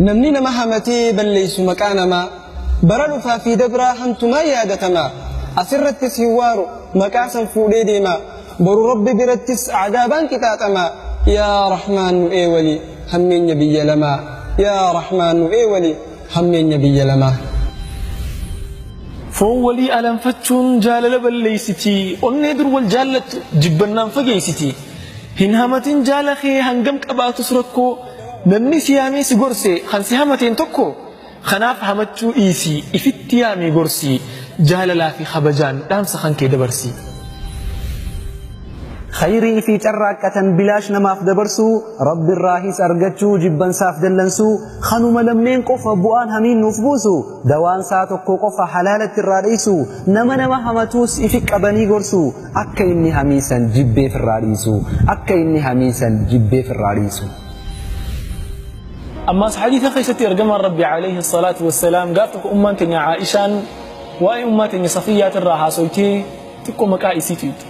namni nama hamatee balleessu maqaa namaa bara dhufaa fi dabraa hamtumaa yaadatama asirrattis hin waaru maqaa san fuudhee deema boru rabbi birattis cadaabaan qixaaxama yaa rahmaan nu eewali hammeenya biyya lamaa yaa rahmaan nu eewali hammeenya biyya lamaa foon walii alanfachuun jaalala balleeysiti onnee dur wal jaallattu jibbannaan fageeysiti Hin hamatin jaala kee hangam qabaatus rakkoo namni si yaamee si gorse kan si hamateen tokko kanaaf hamachuu dhiisii ifitti yaamii gorsii jaalalaa fi kabajaan dhaamsa kan kee dabarsii. Khayrii fi carraaqqatan bilaash namaaf dabarsuu Rabbirraahis argachuu jibbansaaf dallansuu kanuma lamneen qofa bu'aan hamiin nuuf buusu dawaansaa tokko qofa halaalatti irraa dheessuu nama nama hamatuus ifi qabanii gorsuu Akka inni hamii san jibbee firraa dhiisu. Akka inni hamii san jibbee firraa dhiisu. Ammaas hadiisa keessatti ergamaan Rabbi alayhi salaatu wassalaam gaaf tokko ummaan teenya Aa'ishaan waa'ee ummaa teenya Safiyyaat irraa haasoytee xiqqoo maqaa isii tuqxe.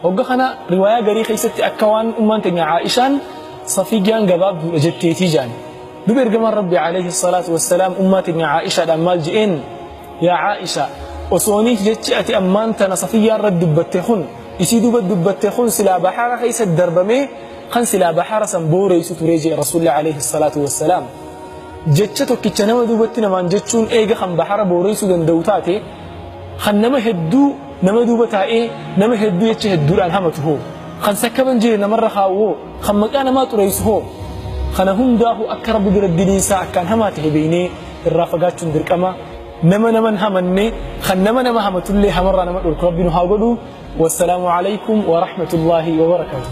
Hogga kana riwaayaa garii keessatti akka waan ummaan teenya Aa'ishaan Safiyyaan gabaabduudha jetteetii jaan. Duba ergamaan Rabbi alayhi salaatu wassalaam ummaa teenya Aa'ishaadhaan maal je'een? Yaa Aa'isha! Osooniif jechi ati ammaan tana Safiyyaa irratti dubbatte kun, isii duuba dubbatte kun silaa bahaara keessa darbamee kan silaa bahaara san booreysu ture jee Rasuulli Aleeyhi Salaatu Wassalaam. Jecha tokkicha nama duubatti namaan jechuun eega kan bahaara booreysuu danda'u taate, kan nama hedduu nama duuba taa'ee nama hedduu jecha hedduudhaan hamatu hoo? Kan sakkaban jee namarra kaa'u hoo? Kan maqaa namaa xureysu hoo? Kana hundaahuu akka Rabbi biratti diliin isaa akkaan hamaa tahe beeynee, irraa fagaachuun dirqama nama naman hamanne kan nama nama hamatullee hamarraa nama dhorku rabbi nu haa godhu wassalaamu alaykum wa rahmatullaahi wa barakaatuh